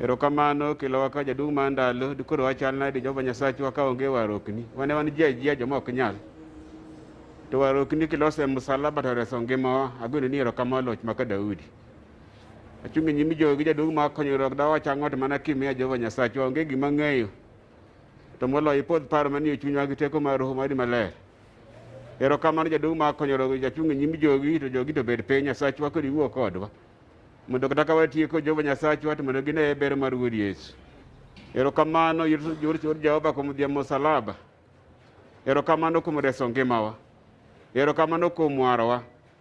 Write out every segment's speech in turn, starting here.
Erokamano kelo waka jaduong' mar ndalo dikoro wachal nade Jehova Nyasachwa ka onge warokni. Wane wan ji ajia joma ok nyal. To warokni kilose msalaba to reso ngimawa. Agoni ni erokamano loch maka Daudi. Achung' e nyim jogi jaduong' ma konyo rok dawa chang'ot mana kimia Jehova Nyasachwa onge gima ng'eyo. To moloyo ipodh paro manie chunywa gi teko mar Roho mari maler. Erokamano jaduong' ma konyoro jachung' e nyim jogi to jogi to bed piny Nyasachwa kod iwuo kodwa. Mondo kata ka watieko Jehova Nyasachwa to mondo gine ber mar Wuod Yesu. Erokamano yor chor Jehova kuom dhie musalaba. Erokamano kuom reso ngimawa. Erokamano kuom warowa.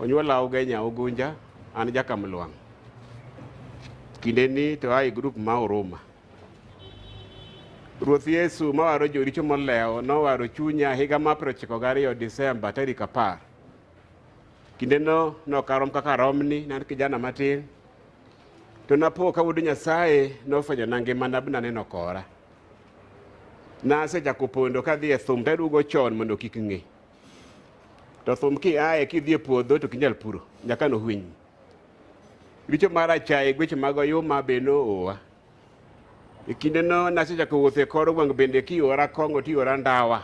Onyuola Ogenya Ogunja, an Jakamlwang'. Kinde ni to ae grup ma Oruma. Ruoth Yesu mawaro joricho molewo nowaro chunya higa ma prochiko gariyo Disemba tarik apar. Kindeno nokarom kaka romni, nan kijana matin. To napo ka wuod Nyasaye nofwenyo na ngima na bna neno kora. Nasechako pondo kadhi e thum taduogo chon mondo kik ng'e. To thum kiaye kidhi e puodho to kinyal puro nyaka no hwiny. Richo mar achaye gweche mag oyuma be no oa. E kinde no nasechako wuotho e kor gweng' bende kiora kong'o tiora ndawa.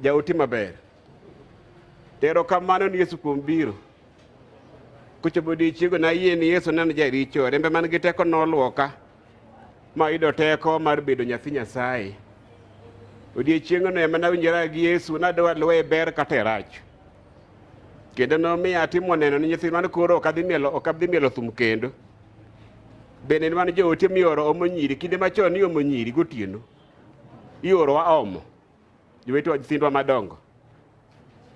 Jaote maber. Tero kamano ni Yesu kuom biro. Kochopo odiechiego nayie ni Yesu neno jaricho, rembe man gi teko nolwoka. ma oyudo teko mar bedo nyathi Nyasaye. Odiechieng'no ema nawinjora gi Yesu nadwa luwe e ber kata e rach. Kendo nomiyo atimo neno ni nyithindwa ni koro ok adhi mielo ok adhi mielo thum kendo. Bende ni wan joote mioro omo nyiri kinde machon ni omo nyiri gotieno. Iorowa omo jowetewa nyithindwa madongo.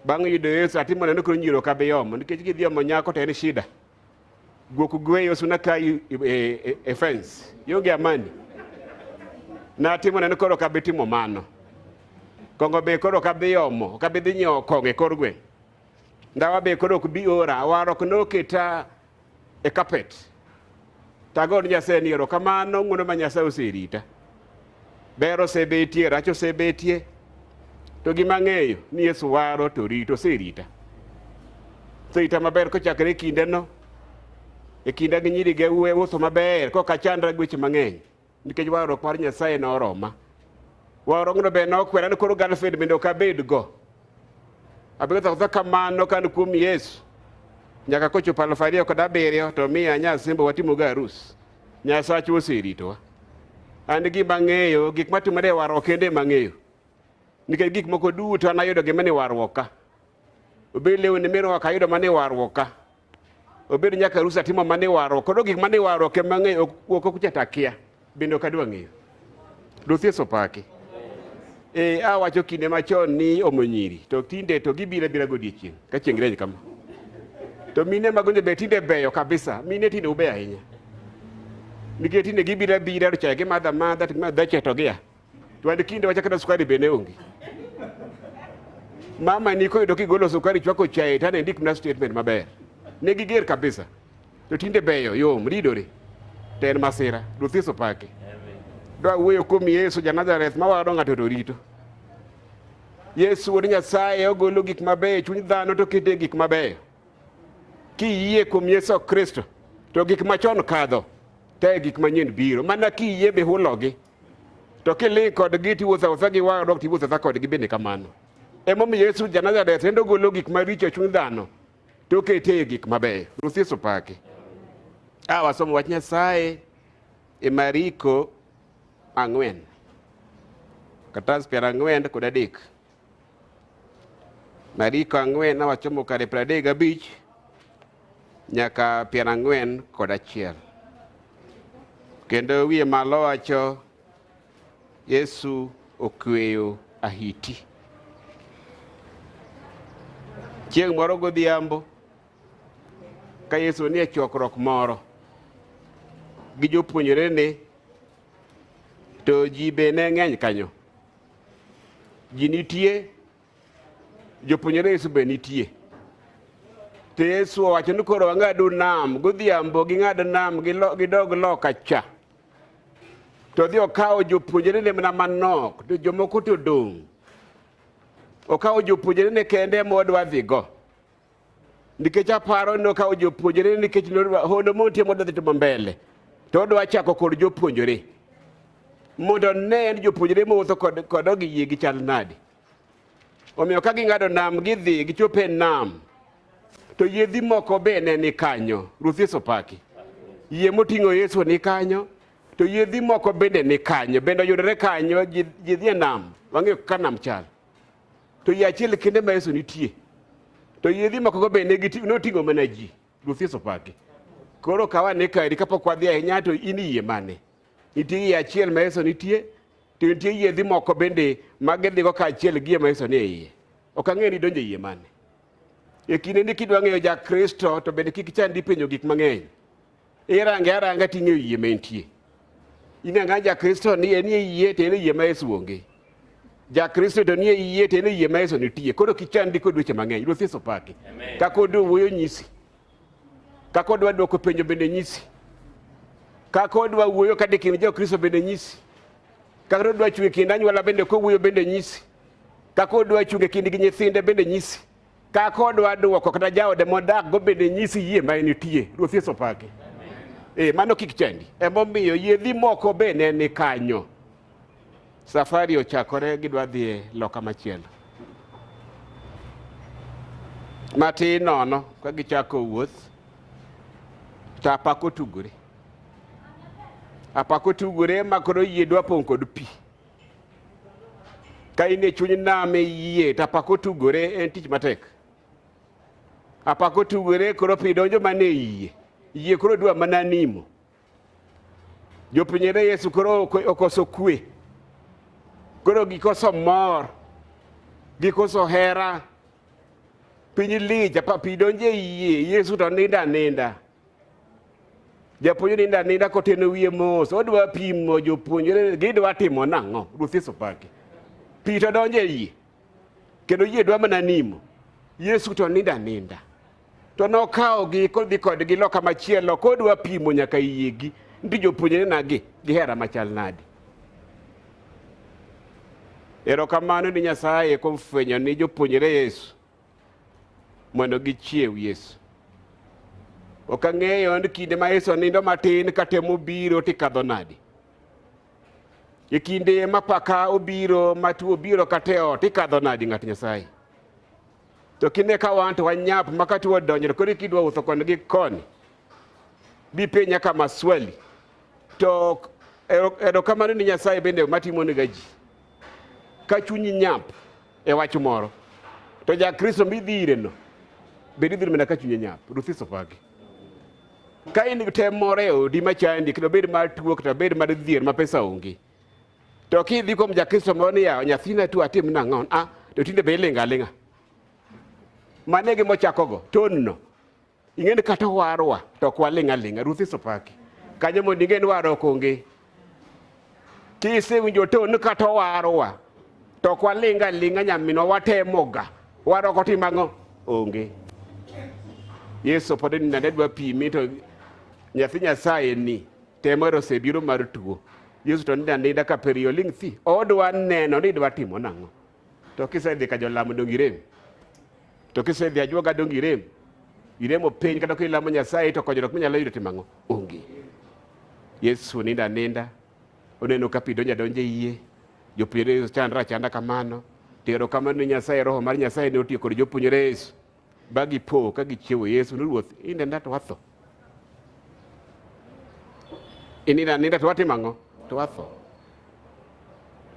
Bang' yudo Yesu atimo neno ni koro nyiri ok abi omo nikech gidhi omo nyako to en shida. Gokugweyo sunaka e, e, e fence. Yonge amani. Natimo neno koro kabe timo mano. Kongo be koro kabe yomo, kabe dhi nyo konge kor gwe. Ndawa be koro ok bi ora, warok noketa e carpet. Tago ni Nyasaye ni erokamano ng'wono ma Nyasaye oserita. Ber osebetie, rach osebetie, to gima ang'eyo ni Yesu waro to rito, oserita. Oserita maber kochakre e kindeno, e kinda gi nyiri gi uwe uso maber, kok achandra gi weche mang'eny, nikech warruok mar Nyasaye ne oroma. Warruokno be nokwera ni koro girlfriend bende ok abedgo. Abedo sasa kamano kan kuom Yesu, nyaka kochopo aluf ariyo kod abiriyo to miya nyasimbo watimogo arus. Nyasachwa oseritowa. An gima ang'eyo, gik matimore e warruok kende ema ang'eyo. Nikech gik moko duto an ayudo gima ni warruok ka. Obed lewni mirwako ayudo mana e warruok ka. Obed nyaka arus atimo mana e warruok. Koro gik mana e warruok ema ang'eyo, ok ok kuchata akia. Bende ok adwa ng'eyo. Ruoth Yesu opaki. E, awacho kinde machon ni omo nyiri to tinde to gibira bira godiechieng' ka chieng' reny kama to mine mago be tinde beyo kabisa mine tinde ube ahinya nikech tinde gibira bira to chaye gimadha madha to gimadha chaye to gia to an kinde wacha kata sukari bende onge mama ni koyudo kigolo sukari chwako chaye to anendik na statement maber ne giger kabisa To tinde beyo yom ridore. To en masira. Ruoth Yesu pake. Dwa wuoyo kuom Yesu ja Nazareth ma wado ng'ato to rito. Yesu wuod Nyasaye ogolo gik mabeyo e chuny dhano to kete gik mabeyo. Kiyie kuom Yesu Kristo to gik machon kadho to e gik manyien biro mana kiyie be hulogi to kiling kodgi tiwuotho awuotha gi wang' dok tiwuotho awuotha kodgi bende kamano. Emomiyo Yesu ja Nazareth endo golo gik maricho e chuny dhano to okete e gik mabeyo. Ruoth Yesu paki. A wasomo wach Nyasaye e Mariko ang'wen katas piero ang'wen kod adek Mariko ang'wen awachomo kare piero adek gabich nyaka piero ang'wen kod achiel kendo wiye malo wacho Yesu okweyo ahiti. Chieng' moro godhiambo ka Yesu nie chokruok moro gi jopuonjrene to ji be ne ng'eny kanyo. Ji nitie, jopuonjre Yesu be nitie. To Yesu owacho ni koro wang'adu nam godhiambo, ging'ad nam gidog loka cha. to odhi okawo jopuonjrene mana manok to jomoko to dong' okawo jopuonjrene kende modwa dhigo nikech aparo ni okawo jopuonjrene nikech hono motie modwa dhi timo mbele to odwa chako kod jopuonjre mondo ne en jopuonjre mowuotho kod ogi yie gi chal nadi Omiyo ka ging'ado nam gidhi gichopo e nam to yiedhi moko be ne ni kanyo. Ruoth Yesu paki. Yie moting'o Yesu ni kanyo to yiedhi moko bende ni kanyo bende oyudore kanyo yiedhi e nam wang'eyo ka nam chal to yie achiel kende ma Yesu nitie to yiedhi moko go bende noting'o mana ji. Ruoth Yesu paki. Koro kawa ni kaeri kapok wadhi ahinya to in yie mane? Nitie yie achiel ma Yesu nitie, to nitie yiedhi moko bende ma gidhigo kaachiel gi yie ma Yesu nie iye. Ok ang'e ni donjo e yie mane. E kinde ni kidwa ng'eyo ja Kristo to bende kik chandi penjo gik mang'eny. Irange aranga ting'eyo yie ma entie. Ing'anga ja Kristo ni en e yie to en e yie ma Yesu onge. Ja Kristo to nie yie to en e yie ma Yesu nitie. Koro kichandi kod weche mang'eny. Ruoth Yesu paki. Ka kod wuoyo nyisi. Kaka odwa dwoko penjo bende nyisi. Kaka odwa wuoyo kade kind Jokristo bende nyisi. Kaka odwa chwe kind anyuola bende kowuoyo bende nyisi. Kaka odwa chunge kind gi nyithinde bende nyisi. Kaka odwa dwoko kata jaode modak go bende nyisi yie ma enitie. Ruoth Yesu opaki. Eh, mano kik chandi. Emomiyo yedhi moko be ne ni kanyo. Safari ochakore gidwa dhi e loka machielo. Matin nono ka gichako wuoth to apako tugore. Apako tugore ma koro yie dwa pong' kod pi. Ka in e chuny nam e yie to apako tugore en tich matek. Apako tugore koro pi donjo mana e yie. Yie koro dwa mana nimo. Jopuonjre Yesu koro okoso kwe, koro gikoso mor, gikoso hera. Piny lich, apa pi donje yie, Yesu to ninda aninda. Japuonjre ninda aninda koteno wiye mos, odwa pimo jopuonjre gidwa timo nang'o? Ruoth Yesu pake. Pi to donje yie, kendo yie dwa mana nimo. Yesu to ninda aninda. To nokawogi kodhi kodgi loka machielo kodwa pimo nyaka yiegi ndi jopuonjre nagi gihera machal nadi. Erokamano ni Nyasaye kuom fwenyo ni jopuonjre Yesu mondo gichiew Yesu. Ok ang'eyo ni kinde ma Yesu nindo matin katemo biro tikadho nadi. E kinde ma paka obiro matu obiro kateo tikadho nadi ng'at Nyasaye. To kine ka wan to wanyap makati wadonjre kodi kidwa uso koni gi koni. Bipenya kama swali. To erokamano ni Nyasaye bende matimo ni gaji. Ka chunyi nyap e wach moro. To ja Kristo midhire no. Bedi dhiro mena ka chunyi nyap. Ruthi sopagi. Ka in tem moro e odi machandi kendo bed mar tuo kata bed mar dhier ma pesa onge. To kidhi kuom jakristo moro ni yawo nyathina tu atim nang'o? Ah, to tinde be ilinga alinga. Mane gima ochakogo, tonno. Ing'e ni kata warwa to ok walinga linga, Ruth isopaki. Kanyo mondo ing'e ni waro ok onge. Kisewinjo ton kata warwa to ok walinga linga nyaminwa watemoga. Waro ok otim ang'o? Onge. Yesu pod ni nade dwa pimi to nyathi Nyasaye ni Temore osebiro mar tuo. Yesu to nida nida ka periyo ling' thi. Odwa neno ni idwa timo nang'o. To kisedhi ka jolamo donge irem. To kisedhi ajuoga donge irem. Iremo piny kata kilamo Nyasaye to konyruok minyalo yudo timo ang'o? Onge. Yesu ninda ninda. Oneno ka pi donjo adonja e yie. Jopuonjre Yesu chandra achanda kamano. To erokamano ni Nyasaye roho mar Nyasaye ne otiyo kod jopuonjre Yesu. ba gipo ka gichiewo Yesu ni ruoth inenda to watho inina ninda to watimo ang'o to watho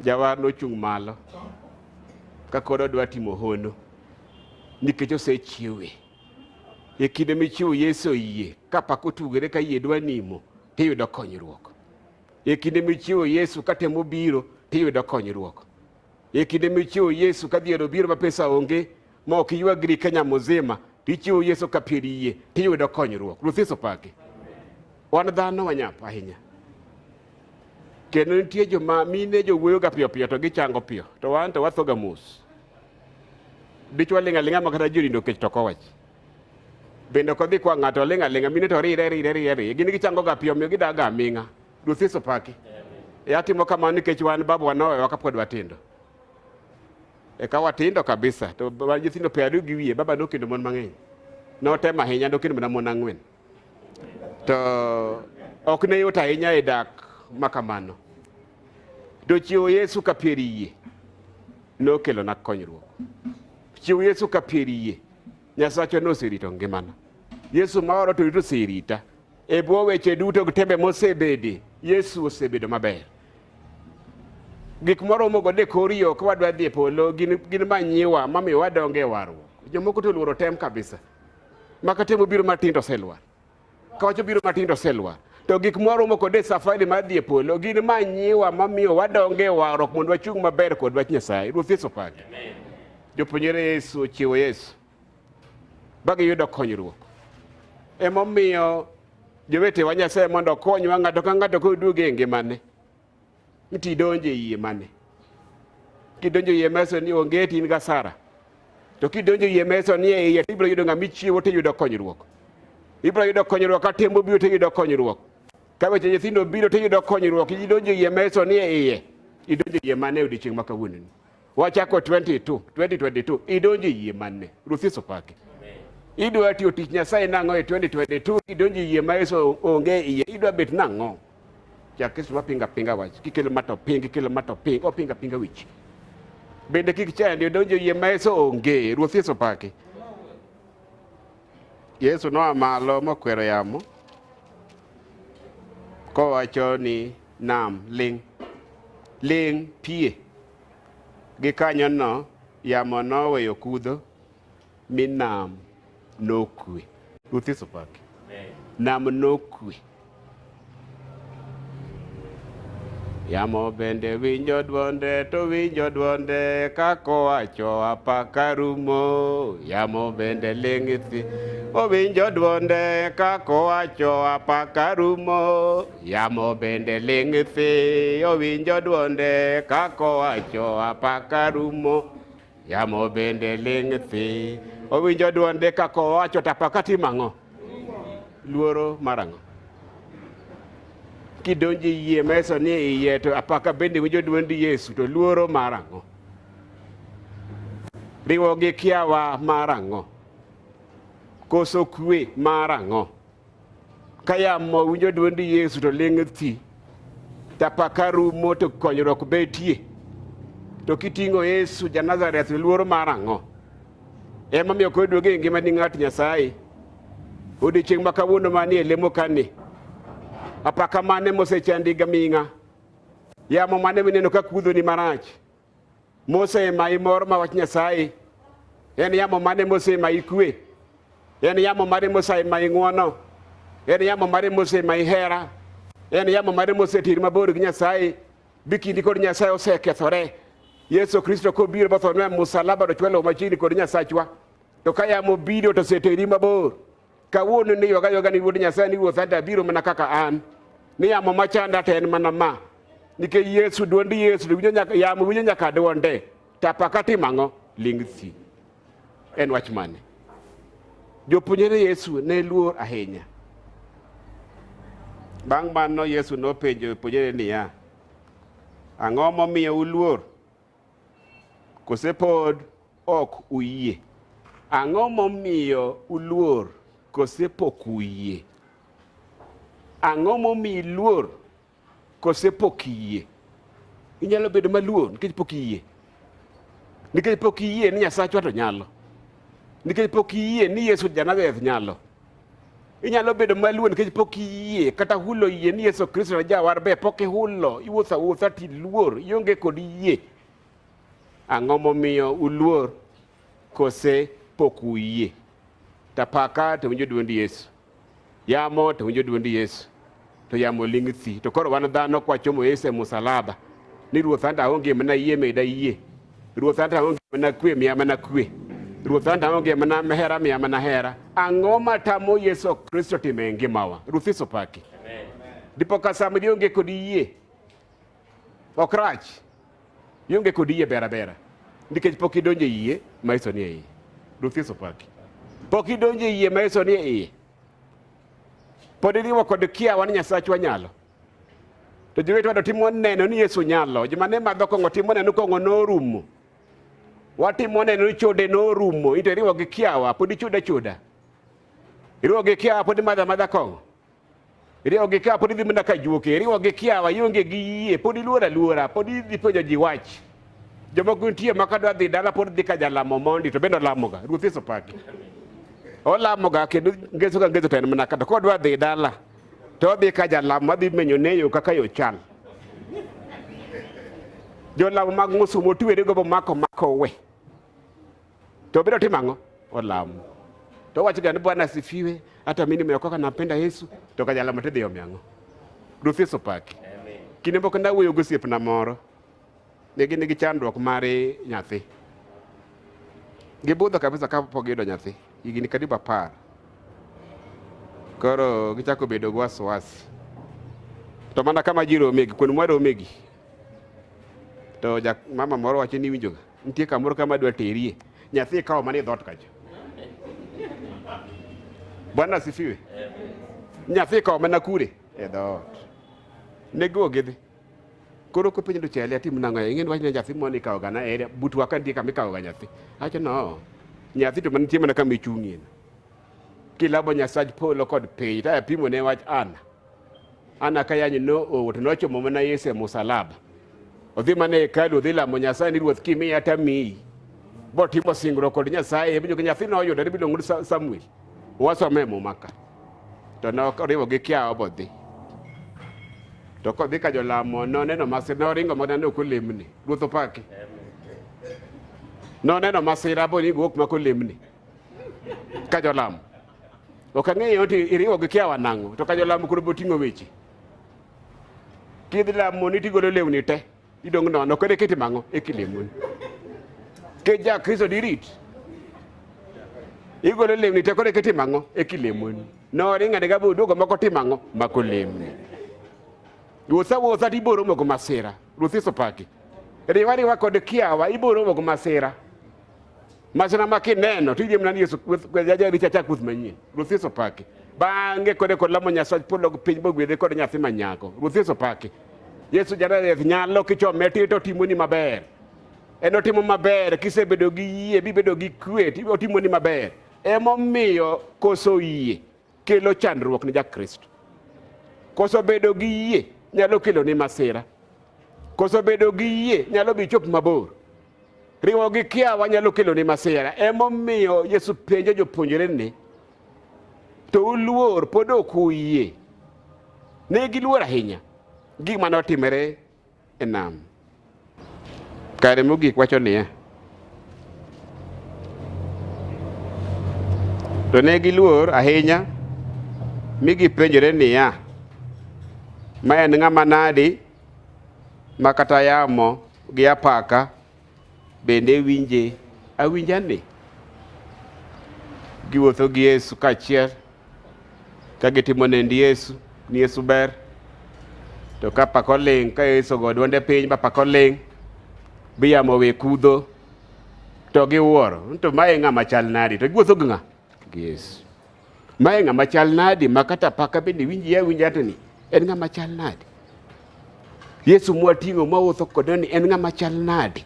jawar nochung' malo ka kod odwa timo hono nikech osechiewe e kinde michiwo Yesu yie ka pak otugore ka yie dwa nimo tiyudo konyruok e kinde michiwo Yesu ka temo biro tiyudo konyruok E kinde michiwo Yesu ka dhier obiro ma pesa onge ma ok iywagri Kenya muzima tichiwo Yesu ka pier yie tiyudo konyruok. Ruoth Yesu paki. Wan dhano wanyap ahinya. Kendo nitie joma mine jowuoyo ga piyo piyo to gichango piyo to wan to wathoga mos. Dichwa ling'a ling'a ma kata jorindo kech to kowach. Bende ok odhi kwa ng'ato ling'a ling'a mine to rire rire rire rire gin gichango ga piyo miyo gidaga aming'a. Ruoth Yesu paki. E atimo kamano nikech wan babu wanowewa kapod watindo. Eka watindo kabisa to wan nyithindo piero ariyo gi wiye baba nokendo mon mang'eny. Notemo ahinya nokendo mana mon ang'wen. To ok ne yot ahinya e dak ma kamano. To chiwo Yesu ka piero yie nokelona konyruok. Chiwo Yesu ka piero yie Nyasachwa noserito ngimana. Yesu maoro to rito oserita. E bwo weche duto gi tembe mosebedi, Yesu osebedo maber. Gik moromogo de kor yo ka wadwa dhi e polo gin, gin manyiwa mamiyo wadongo e warruok. Jomoko to oluoro tem kabisa. Maka tem obiro matin to oselwar. Ka wach obiro matin to oselwar. To gik mwaromo kod e safari mar dhi e polo gin manyiwa mamiyo wadongo e warruok mondo wachung' maber kod wach Nyasaye. Ruoth Yesu opaki. Jopuonjre Yesu ochiwo Yesu. ba giyudo konyruok. Emomiyo jowetewa Nyasaye mondo okonywa ng'ato ka ng'ato koduoge e ngimane nti idonjo e yie mane kidonjo e yie meso ni onge tin ga sara to kidonjo e yie meso ni e iye ibiro yudo ng'ama ichiwo tiyudo konyruok ibiro yudo konyruok ka tembo biro tiyudo konyruok ka weche nyithindo biro tiyudo konyruok idonjo e yie meso ni e iye idonjo e yie mane e odiechieng' ma kawuononi Wachako 22, 2022 idonjo yie manne. Ruoth Yesu pake. Idwa tiyo tich Nyasaye nang'o e 2022 idonjo yie ma Yesu onge iye idwa bet nang'o? Ja Kristo ma pinga pinga wach kikelo ma to ping kikelo ma to ping o pinga pinga wich. Bende kik chandi idonjo yie ma Yesu onge. Ruoth Yesu pake. Yesu noa malo mokwero yamo kowacho ni nam ling' ling' pie Gikanyono yamo noweyo kudho mi nam nokwe. Ruoth Yesu paki. Nam nokwe. Yamo bende winjo dwonde to winjo dwonde kakowacho apaka rumo. Yamo bende ling'isi owinjo dwonde kakowacho apaka rumo. Yamo bende ling' thi owinjo dwonde kakowacho apaka rumo. Yamo bende ling' thi owinjo dwonde kakowacho tapaka timang'o. Luoro marang'o. Kidonji yie meso ni iye to apaka bende winjo dwond Yesu to luoro marang'o. Riwo gi kiawa marang'o. Koso kwe marang'o. Ka yamo winjo dwond Yesu to ling' thi, to apaka rumo to konyruok betie. To kiting'o Yesu ja Nazareth luoro mar ang'o? Emomiyo koro duoge ngima ni ng'at Nyasaye. Odiechieng' ma kawuono manie lemo kani, apaka mane mosechandiga ming'a? Yamo mane mineno ka kudhoni marach? mosema imor ma wach Nyasaye? En yamo mane mosema ikwe? En yamo mane mosema ing'wono? En yamo mane mosema ihera? En yamo mane mosetiri mabor gi Nyasaye? Bi kindi kod Nyasaye osekethore. Yesu Kristo kobiro bothonwa e musalaba to chwalo machiegni kod Nyasachwa. To ka yamo biro to oseteri mabor. Kawuono ni yoga yoga ni Wuod Nyasaye ni Ruoth ada biro mana kaka an. Ni yamo machanda to en mana ma. Nikech Yesu duond Yesu to winjo nyaka yamo winjo nyaka duonde. Tapa ka timo ang'o? Ling thi. En wach mane? Jopuonjre Yesu ne luor ahinya. Bang' mano Yesu nopenjo jopuonjre niya, ang'o momiyo uluor? Kose pod ok uyie? Ang'o momiyo uluor? Kose pok uyie? Ang'o momiyo iluor? Kose pok iyie? Inyalo bedo maluor nikech pok iyie. Nikech pok iyie ni Nyasachwa to nyalo. Nikech pok iyie ni Yesu Janazareth nyalo. Inyalo bedo maluor nikech pok iyie kata hulo yie ni Yesu Kristo na jawar be pok ihulo, iwuotho awuotha ti luor, ionge kod yie. Ang'o momiyo uluor kose pok uyie? Tapaka to winjo duond Yesu. Yamo to winjo duond Yesu. to yamo ling' thi. To koro wan dhano kwachomo Yesu e musalaba ni Ruoth anta aonge mana yie meda yie. Ruoth anta aonge mana kwe miya mana kwe. Ruoth anta aonge mana hera miya mana hera. Ang'o matamo Yesu Kristo timo e ngimawa? Ruoth Yesu paki. Dipo ka sama dionge kod yie ok rach. Ionge kod yie bera bera. Nikech pok idonje yie ma Yesu ni e iye. Ruoth Yesu paki. Pok idonje yie ma Yesu ni e iye. Pod iriwo kod kiawa ni Nyasachwa nyalo. To jowetwa do timo neno ni Yesu nyalo. Joma ne madho kong'o timo neno kong'o norumo. Watimo neno ni chode norumo. Ito iriwo gi kiawa, pod ichuda chuda. Iriwo gi kiawa, pod imadha madha kong'o. Iriwo gi kiawa, pod idhi mana ka juoke. Iriwo gi kiawa, ionge gi yie, pod iluora luora, pod idhi penjo ji wach. Jomoko nitie ma kadwa dhi dala pod dhi ka jalamo mondi to bende olamoga. Ruoth Yesu paki. Olamoga kendo ngeso ka ngeso to en mana kata kodwa dhi dala to odhi ka jalamo adhi menyo neyo kaka yo chal. Jolamo mag ng'usu motwere gobo mako mako we. To biro timo ang'o? Olamo. To wacho gani Bwana asifiwe, hata mimi nimeokoka nampenda Yesu, to ka jalamo tidhi omi ang'o? Ruoth Yesu paki. Kinde moko nawuoyo gosiepna moro Ne gin gi chandruok mar nyathi. Gibudho kabisa ka pok giyudo nyathi. Higni karibu apar. Koro gichako bedo gi wasiwasi. To mana kama ji romegi, kuonde mwa romegi. To ja, mama moro wacho ni winjoga. Nitie kamoro kama dwa terie. Nyathi ikawo mana e dhoot kacha. Bwana asifiwe. Nyathi ikawo mana kure e dhoot. Ne giwuok gidhi. koro kopenjo ni chele atim nang'o e ing'eni wach ni nyathi moni ikawo gana ere butwa ka nitie kama ikawo ga nyathi acho no nyathi to manitie mana kama ichung'ie kilabo nyasach polo kod piny taya pimo ne wach ana ana ka yanyi no owo to nochomo mana yesu e musalaba odhi mana e hekalu odhi lamo nyasaye ni ruoth kimiya tamiyi botimo singruok kod nyasaye ebinyo nyathi noyudo ne biluongo ni samuel Wasome Muma ka to noriwo gi kiawa bodhi to kodhi ka jolamo noneno masira noringo mana ni ok olemni ruoth opaki noneno masira bo ni guok mako lemni ka jolamo ok ang'eyo ti iriwo gi kiawa nang'o to ka jolamo koro boting'o weche kidhi lamo ni tigolo lewni te Idong' nono kode kiti mang'o e kilemoni. Ke ja Kristo dirit. Igolo lemni te kode kiti mang'o e kilemoni. No ringa ne gabu duogo mako ti mang'o mako lemni. Wuotha wuotha ti boro moko masira. Ruthi sopaki. Riwa riwa kod kiawa iboro moko masira. Masira ma kineno to idhi mana ni Yesu jaja richa chak kuth manyien. Ruoth Yesu paki. Bang'e kode kod lamo Nyasaye polo gi piny bogwedhe kod nyathi ma nyako. Ruoth Yesu paki. Yesu Janareth nyalo kichome tito timoni maber. En otimo maber kisebedo gi yie bibedo gi kwe otimoni maber. Emomiyo koso yie. kelo chandruok ne Jakristo? Koso bedo gi yie nyalo kelo ni masira? Koso bedo gi yie nyalo bi chop mabor? Riwo gi kiawa nyalo kelo ni masira. Emomiyo Yesu penjo jopuonjre ni, to uluor pod ok uyie? Ne giluor ahinya gima notimore e nam. Kare mogik wacho niya, to ne giluor ahinya mi gipenjore niya, ma en ng'ama nadi ma kata yamo gi apaka bende winje awinjani? Giwuotho gi Yesu kaachiel ka gitimo nend Yesu ni Yesu ber to ka pako ling ka Yesu go dwonde piny ba pako ling bi yamo we kudho to giwuoro to mae ng'ama chal nadi to giwuotho gi ng'a gi Yesu mae ng'ama chal nadi ma kata paka bende winji ya winja to ni en ng'ama chal nadi Yesu mwating'o mawuotho kode ni en ng'ama chal nadi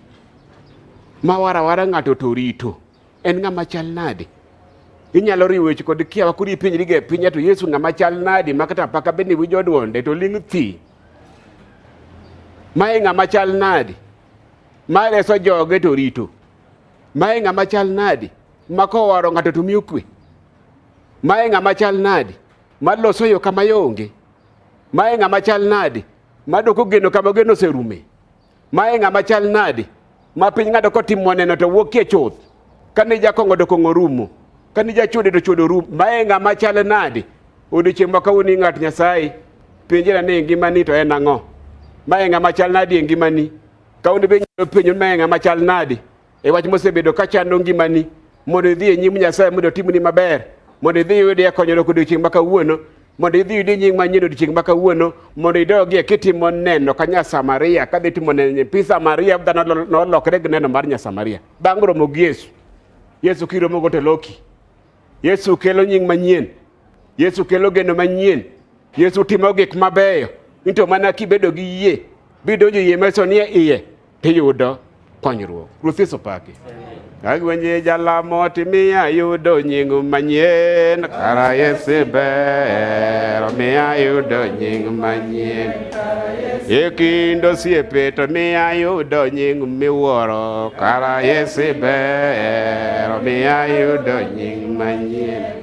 ma warawara ng'ato to rito En ng'ama chal nade? Inyalo riwo weche kod kiawa kuri ipenjri ge pinya to Yesu ng'ama chal nade ma kata apaka bende winjo dwonde to ling' thi. Mae ng'ama chal nade? Ma reso joge to rito. Mae ng'ama chal nade? Ma kowaro ng'ato to miyo kwe. Mae ng'ama chal nade? Ma loso yo kama yonge. Mae ng'ama chal nade? Ma doko geno kama geno oserume. Ma e ng'ama chal nadi? Ma piny ng'ado kotim moneno to wuokie chuth. Kane jakongo to kongo rumo. Kane jachode to chodo rumo. Ma e ng'ama chal nadi? Odiochieng' ma kawuono ni ng'at Nyasaye. Penjera ni ngimani to en ang'o? Ma e ng'ama chal nadi e ngimani? Kawuono be nyalo penjo ma e ng'ama chal nadi? e wach mosebedo ka chando ngimani mondo idhi e nyim Nyasaye mondo otimni maber mondo idhi iyudie konyruok odiechieng' ma kawuono mondo idhi yudi nying manyien odiechieng' ma kawuono mondo idogie kitimo neno ka Nyasamaria kadhi timo neno nyithi Samaria dhano nolokre gi neno mar Nyasamaria bang' romo gi Yesu Yesu kiromo go teloki Yesu kelo nying manyien Yesu kelo geno manyien Yesu timo gik mabeyo into mana kibedo gi yie bidonjo yie meso nie iye tiyudo konyruok. Ruoth Yesu paki. Agwenye jalamo timiya yudo nying manyien kara Yesu ber miya yudo nying manyien e kind osiepe to miya yudo nying miwuoro kara Yesu ber miya yudo nying manyien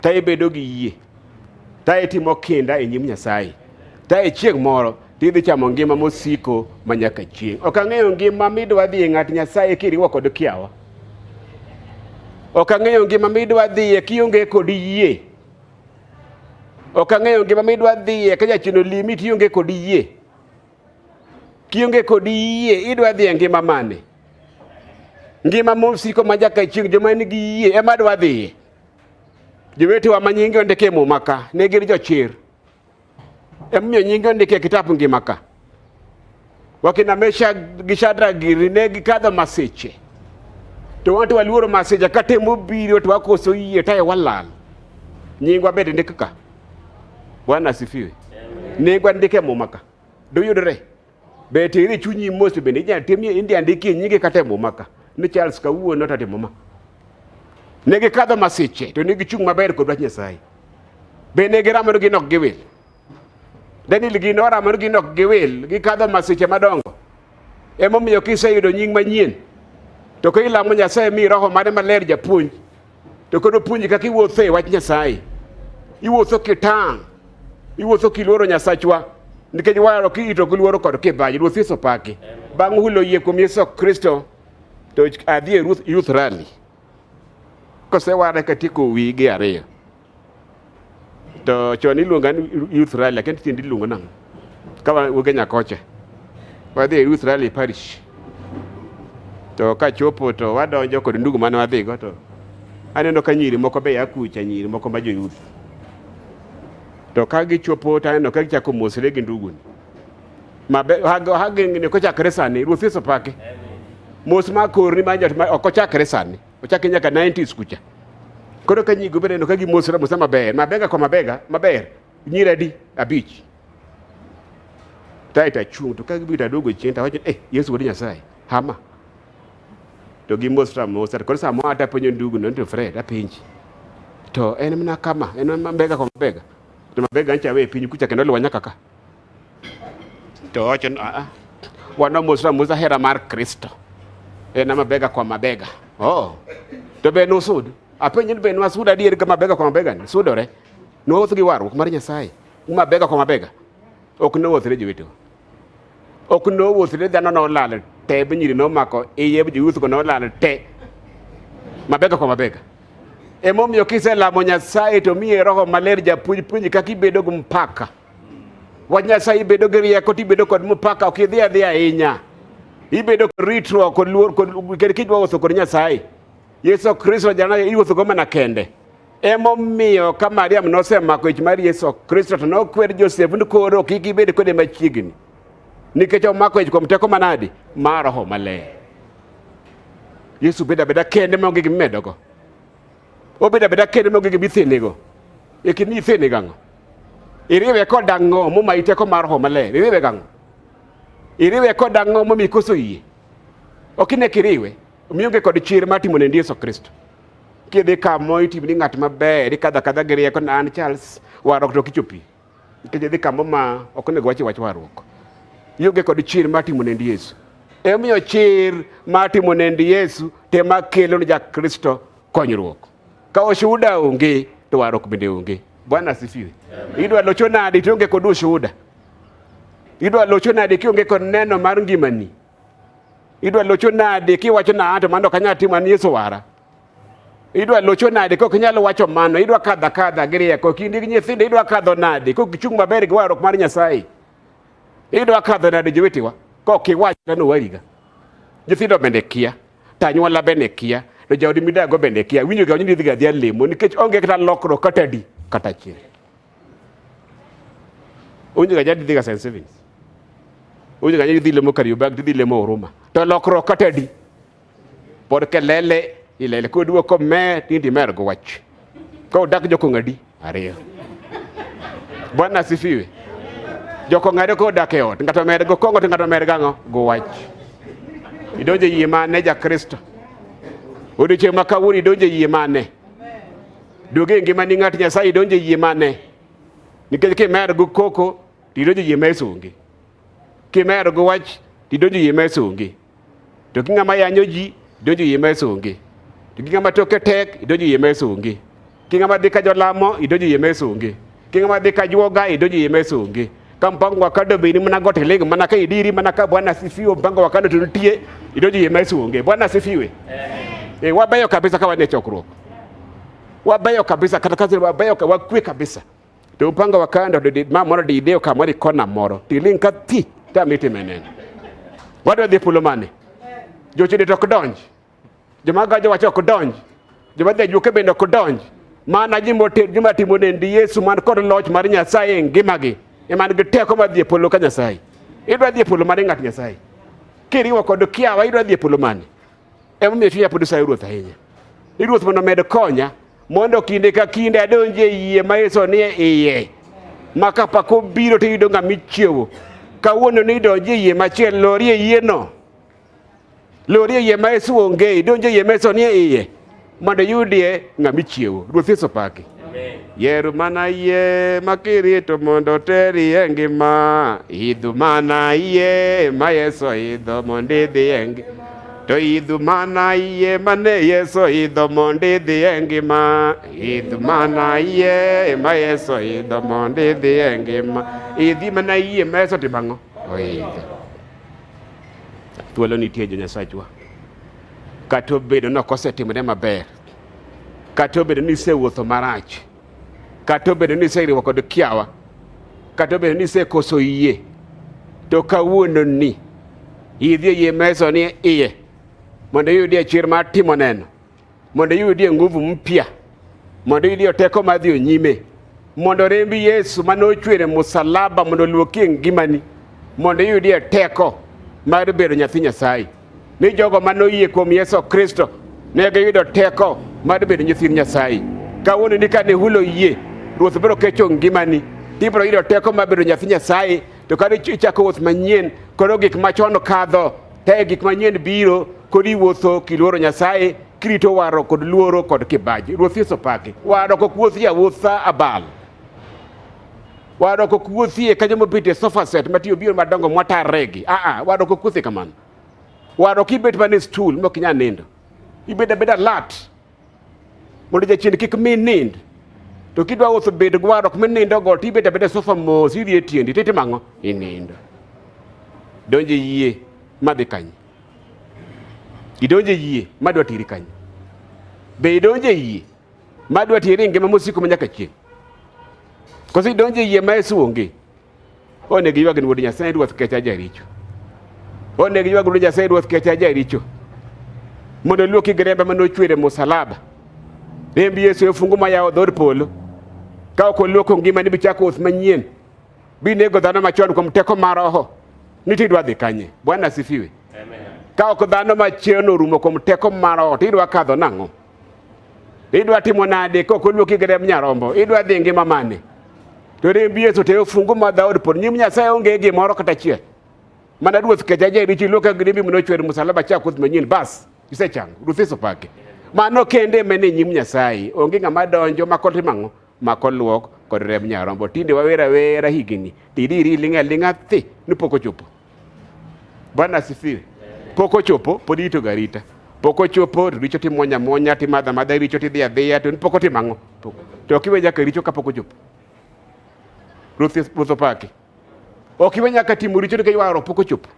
ta ibedo gi yie ta itimo kinda e nyim Nyasaye ta e chieng' moro tidhi chamo ngima mosiko ma nyaka chieng'. Ok ang'eyo ngima midwa dhi e ng'at Nyasaye kiriwo kod kiawa. Ok ang'eyo ngima midwa dhiye kionge kod yie. Ok ang'eyo ngima midwa dhiye ka jachino limi tionge kod yie. Kionge kod yie idwa dhiye ngima mane? Ngima mosiko ma nyaka chieng' joma nigi yie ema dwa dhiye. Jowetewa ma nyingi ondike e muma ka ne gin jochir. Emomiyo nyingi ondike e kitabu ngima ka. Wakina Mesha gi Shadra giri ne gikadho masiche. To wan to waluoro masiche ka temo biro to wakoso yie tae walal. Nyingwa bende ndik ka. Bwana asifiwe. Nyingwa ndike e muma ka. Doyudore. Be tere chunyi mos bende inyalo tim india ndikie nyinge kata e muma ka ni Charles kawuono to timo ma. Ne gikadho masiche to ne gichung' maber kod wach Nyasaye. Be ne giramore gi nok giwil. Daniel gi noramore gi nok giwil gikadho masiche madongo. Emomiyo kiseyudo nying manyien to ka ilamo Nyasaye mi roho mare maler japuonj to kendo puonji kaka iwuotho e wach Nyasaye. Iwuotho kitang', iwuotho kiluoro Nyasachwa nikech waro kiito gi luoro kod kibaji. Ruoth Yesu paki. Bang' hulo yie kuom Yesu Kristo to adhi e Ruth Youth Rally. Kosewara katieko wige ariyo. To chon iluonga ni Youth Rally lakini tinde iluongo nang'o? Ka wuoge Nyakoche. Wadhi e Youth Rally Parish. To ka chopo to wadonjo kod ndugu mane wadhigo to aneno ka nyiri moko be akucha nyiri moko ma joyuth. To ka gichopo to aneno ka gichako mosre gi nduguni. Mabe hagengni kochakre sani Ruoth Yesu pake. Mos ma korni ma jot ma ok ochakre sani. ochake nyaka 90s kucha koro ka nyigo bende no ka gimosra mosa maber mabega kwa mabega maber nyira adi abich tae tachung' to ka gibiro tadogo chien tawacho eh yesu wuod nyasaye hama to gimosra mosa to koro samoro ata penjo ndugu no to fred apenji to en mana kama en mabega kwa mabega to mabega ncha we piny kucha kendo luwa nyaka ka to wacho ni ah, ah, wanamosa amosa hera mar Kristo en ama bega kwa mabega oh. to be nusud apenjo ni be nwasud adier ka mabega kwa mabega ni sudore nwawuoth gi warruok mar Nyasaye mabega kwa mabega ok nowuothre jowetewa ok nowuothre dhano nolal te be nyiri nomako iye jowuothgo nolal te mabega kwa mabega emomiyo kiselamo Nyasaye to miye roho maler japuonj puonji kaka ibedo gi mpaka Wach Nyasaye ibedo gi rieko tibedo kod mupaka ok idhi adhi ahinya. Ibedo kod ritruok kod luor kod kendo kijwa wuotho kod Nyasaye. Yesu Kristo jana iwuotho go mana kende. Emomiyo ka Mariam nosemako ich mar Yesu Kristo to nokwer Josef ni koro kik ibed kode machiegni. Nikech omako ich kuom teko manadi mar Roho Maler. Yesu bedo abeda kende maonge gimimedogo. Obedo abeda kendo nogi gi bithinego. E kin ni ithene gango. Iriwe ko dango mo ma iteko mar ho male. Iriwe gango. Iriwe ko dango mo mi koso yie. Okine kiriwe. Omiyo ge kod chir ma timo ne Yesu Kristo. Kidhi kamo itimo ni ng'at maber, ikadha kadha gi rieko na an Charles, warok to kichopi. Nikech idhi kambo ma ok onego wachi wach warruok. Ionge kod chir mar timo nend Yesu. Emomiyo chir mar timo nend Yesu te ma kelo ni Jakristo konyruok. Ka oshuhuda onge to warruok bende onge. Bwana asifiwe. Idwa locho nade tionge kod ushuhuda? Idwa locho nade kionge kod neno mar ngimani? Idwa locho nade kiwacho na to mano kanya timo an Yesu wara? idwa locho nade kok inyalo wacho mano idwa kadho akadha gi rieko kindi gi nyithindo idwa kadho nade kok ichung' maber gi warruok mar nyasaye idwa kadho nade jowetewa kok iwach kano wariga nyithindo bende kia to anyuola bende kia to jaodi midago bende kia winjo ga ni idhiga adhiya lemo nikech onge kata lokruok kata di kata achiel onge ga jadi dhiga St. Stephen's onge ga jadi dhi lemo Kariobangi to dhi lemo Huruma to lokruok kata di Pod kelele ilele koduoko me tindi mer go wach. Ko dak joko ngadi ariyo. Bwana asifiwe. Joko ngadi ko dak e ot ngato mer go kongo to ngato mer gango go wach. Idonje yie mane ja Kristo. Odiochieng' ma kawuono idonje yie mane. Duoge e ngima ni ng'at Nyasaye idonje yie mane. Nikech kimer go koko tidonje yie mesongi. Kimer go wach tidonje yie mesongi. To gi ng'ama yanyo ji donjo yie mesa onge. To gi ng'ama toke tek idonjo yie mesa onge. Ki ng'ama dhi ka jolamo idonjo yie mesa onge. Ki ng'ama dhi ka juoga idonjo yie mesa onge. Ka mpango wa kado bini mana gote lego mana ka idiri mana ka Bwana sifiwe mpango wa kado tunutie idonjo yie mesa onge. Bwana sifiwe. Eh, wabeyo kabisa ka wane chokruok. Wabeyo kabisa kata kazi wabeyo wakwe kabisa. to upanga wakanda to ma moro diideo ka moro ikona moro tiling ka thi ta miti menen wadwa dhi pulo mane jochidi to ok donj joma gajo wacho ok donj joma dhi ajuoke bende ok donj mana ji moter joma timo nendi yesu man kod loch mar nyasaye e ngimagi eman gi teko mar dhi e polo ka nyasaye idwa dhi e polo mane ng'at nyasaye kiriwo kod kiawa idwa dhi e polo mane Emomiyo chunya pod sayo Ruoth ahinya, ni Ruoth mondo omed konya mondo kinde ka kinde adonje yie ma Yesu nie iye ma kapako biro to iyudo ng'ama ichiewo kawuono ni idonje yie machiel lorie yieno lorie yie ma Yesu onge idonje yie ma Yesu nie iye Mondo yudie ng'ama ichiewo. Ruoth Yesu paki. Yer mana yie ma kirito mondo oteri e ngima. Idhu mana yie ma Yesu oidho mondo idhi e ngima. To idhu mana yie ma ne Yesu oidho mondo idhi e ngima. Idhu mana yie ma Yesu oidho mondo idhi e ngima. Idhi mana yie ma Yesu otimo ang'o? Oidho. Thuolo nitie jo Nyasachwa. Kata obedo ni ok osetimore maber, kata obedo ni isewuotho marach, kata obedo ni iseriwo kod kiawa, kata obedo ni isekoso yie, to kawuononi idhi e yie meso ni iye mondo iyudie chir mar timo neno, mondo iyudie nguvu mpya, mondo iyudie teko mar dhi nyime, mondo remb Yesu mane ochwer e musalaba mondo oluoki e ngimani, mondo iyudie teko mar bedo nyathi Nyasaye. ni jogo ma noyie kuom Yesu Kristo ne giyudo teko mar bedo nyithind Nyasaye. Kawuono ni kane hulo yie, Ruoth biro kecho ngimani, ibiro yudo teko mar bedo nyathi Nyasaye, to kane ichako wuoth manyien, koro gik machon kadho, te gik manyien biro, kod iwuotho kiluoro Nyasaye, kirito waro kod luoro kod kibaji. Ruoth Yesu paki. Waro kok wuothi awuotha abal. Wadwa kok wuothie ka joma obet e sofa set ma tiyo biro madongo mwatarregi. Ah ah, wadwa kok wuothie kamano. Wadwa kibet mana e stool mok inyal nindo. Ibed abeda alert. Mondo jachien kik mi nind. To kidwa wuotho bed gi wadwa kuma nindo go to ibet abeda e sofa mos idhi e tiendi to itimo ang'o? Inindo. Donjo e yie madhi kanye? Idonjo e yie madwa tiri kanye? Be idonjo e yie ma dwa tieri e ngima mosiko ma nyaka chieng'. Koso idonjo e yie ma Yesu onge. Onego ywag ni wuod Nyasaye ruoth kecha jaricho. Onego ywag ni Nyasaye ruoth kecha jaricho. Mondo luoki gi rembe ma nochwere musalaba. Remb Yesu e fungu ma yawo dhod polo. Ka ok oluoko ngima ni bichako oth manyien. Binego dhano machon kuom teko mar roho. Niti idwa dhi kanye? Bwana asifiwe. Amen. Ka ok dhano machon orumo kuom teko mar roho, to idwa kadho nang'o? Idwa timo nade kok oluoki gi remb nyarombo? Idwa dhi ngima mane? To remb Yesu te ofungu ma dhaod pod nyim Nyasaye onge gimoro kata achiel. Mana ruoth kecha jeri chi luoka gi rembi manochwer musalaba cha kuth manyien bas isechango. Ruoth Yesu pake. Mano kende mene nyim Nyasaye onge ng'ama donjo ma kotimo ang'o mak oluok kod remb nyarombo. Tinde wawer awera higini, tidiri iling' aling'a thi ni pok ochopo. Bwana asifiwe. Pok ochopo, pod irito garita. Pok ochopo, to richo timonya monya, timadha madha richo tidhi adhiya, to pok otimo ang'o? To ok iwe nyaka richo kapok ochopo. Ruoth Ruoth opaki. Ok iwe nyaka timo richo nikech waro pok ochopo.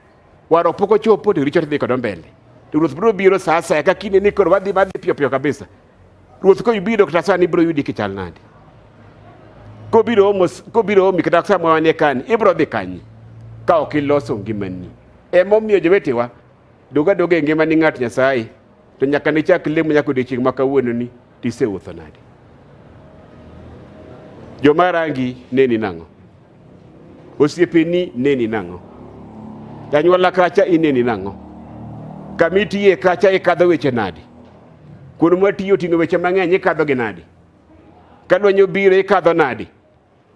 Waro pok ochopo to richo tidhi kodo mbele. To Ruoth biro biro saa asaya ka kinde ni koro wadhi madhi piyo piyo kabisa. Ruoth ka ibiro kata sani ibiro yudi kichal nadi? Kobiro omo kobiro omi kata sama wanie kani ibiro dhi kanye ka ok iloso ngimani. Ema omiyo jowetewa doga doga e ngimani ng'at Nyasaye to nyaka ne chak lemo nyaka odiechieng' ma kawuononi tiseutho nadi? Joma rangi neni nang'o? Osiepeni neni nang'o? Janyuola kacha ineni nang'o? Kama itiye kacha ikadho weche nadi? Kuno ma tiyo oting'o weche mang'eny ikadho gi nadi? Ka lwenyo biro ikadho nadi?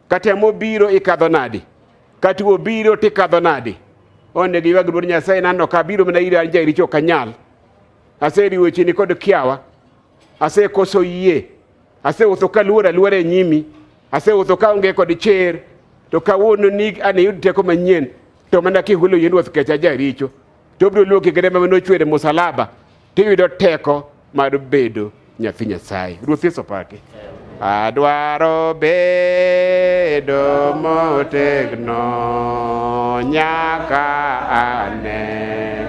Ka temo biro ikadho nadi? Ka tuo biro tikadho nadi? Onego iywag luor Nyasaye nano ka biro mana ira ja richo kanyal. Aseriwo chini kod kiawa. Asekoso yie. Asewuotho ka luor aluora e nyimi, asewuotho ka onge kod cher, to kawuono ni an iyud teko manyien, to mana kihulo yien wuoth kecha jaricho, to obiro luoki gi rema manochwer e musalaba, to iyudo teko mar bedo nyathi Nyasaye. Ruoth Yesu opaki. Adwaro bedo motegno nyaka ane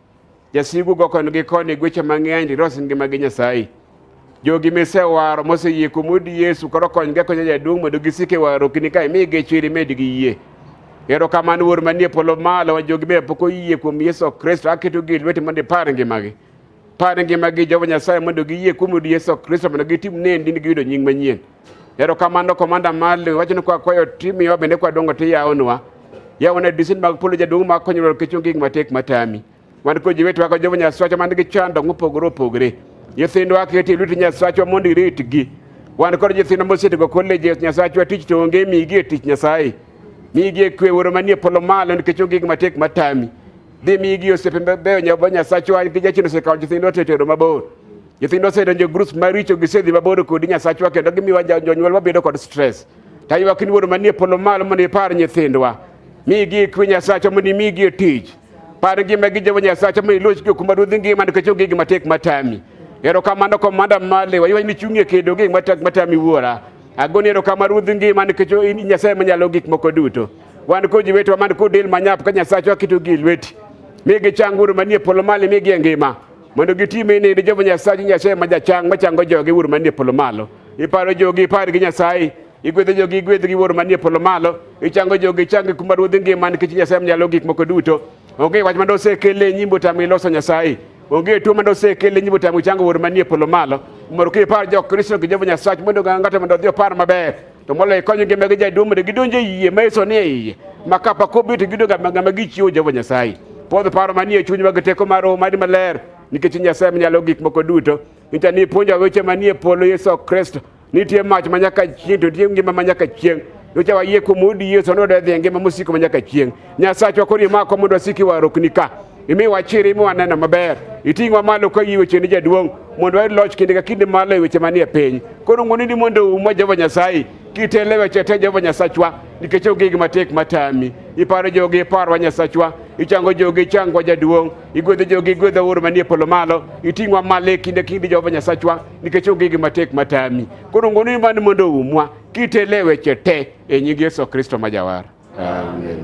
Jasigu go koni gi koni gweche mang'eny to iros ngima gi Nyasaye. Jogi misewaro moseyie kuom od Yesu koro konygi akonya jaduong' mondo gisik e warruokni ka imi gichwiri med gi yie. Erokamano Wuoro manie polo malo ma jogi be pok oyie kuom Yesu Kristo aketogi e lweti mondo ipar ngimagi. Par ngimagi Jehova Nyasaye mondo giyie kuom od Yesu Kristo mondo gitim ne ndini giyudo nying manyien. Ero kamano komanda Marley, wacho ni kwa kwayo timu yawa bende kwa dongo ti yaonwa. Yawa na disin mag polo jaduong' ma konyo lor kichung gik matek matami. Wan ko jiwe twako jovo nyaswacho man gi chando ng'upogore opogore. Nyithindwa keti luti nyaswacho mondo iritgi. Wan kod nyithindo mosetigo koleji nyaswacho tich to onge migi e tich Nyasaye. Migi e kwe woro manie polo malo nikech onge gik matek matami. Dhi migi osiepe mabeyo nyasacho nikech jachien osekawo nyithindwa to etero mabor. Nyithindo osedonjo e grups maricho, gisedhi mabor kodi Nyasachwa, kendo gimiwa jonyuol wabedo kod stress. To aywak ni Wuoro manie polo malo mondo ipar nyithindwa, migi ikwe Nyasachwa mondo imigi e tich. Par ngima gi Jehova Nyasachwa mondo iloch gi kuma ruodhi ngima nikech onge gima tek matami. Erokamano komanda malewa, iwa ni chung'ie kedo gi gima tek matami Wuora. Agoni erokamano ruodhi ngima nikech in Nyasaye manyalo gik moko duto. Wan kod jowetewa man kod del manyap ka Nyasachwa keto gi e lweti. Migi chang Wuoro manie polo malo, migi e ngima. mondo gitime ni Jehova Nyasaye Nyasaye ma jachang machango jogi wuor manie polo malo. Iparo jogi ipar gi Nyasaye, igwedho jogi igwedh gi wuor manie polo malo, ichango jogi ichangi kuma ruodhi ngima nikech Nyasaye mnyalo gik moko duto. Onge wach mane osekele nyim otamo iloso Nyasaye. Onge tuo mane osekele nyim otamo ichango wuor manie polo malo. Mondo kipar jo Kristo gi Jehova Nyasaye mondo ng'ato mondo odhi opar maber. to moloyo konyogi ma gijaduong' mondo gidonj e yie ma Yesu nie iye ma ka pok obi to giyudo ngama gichiwo Jehova Nyasaye podho paro manie chuny mag teko mar roho mari maler nikech Nyasaye manyalo gik moko duto nyicha ni puonjo weche manie polo Yesu Kristo nitie mach manyaka chieng' to nitie ngima manyaka chieng' nyocha wayie kuom udi Yesu nodedhi e ngima mosiko manyaka chieng' Nyasachwa koro imako mondo wasiki warokni ka imiwa chir imiwa neno maber iting'wa malo ka iwe cheni jaduong' mondo wayud loch kinde ka kinde malo e weche manie piny koro ng'oni ni mondo umwa Jehova Nyasaye kitele weche te Jehova Nyasachwa nikech ogig matek matami iparo jogi iparwa Nyasachwa ichango jogi ichangwa jaduong' igwedho jogi igwedho oro manie polo malo iting'wa malo e kinde kinde Jehova Nyasachwa nikech ogig matek matami koro ng'oni ni mondo umwa kitele weche te E nying Yesu Kristo ma Jawar. Amen.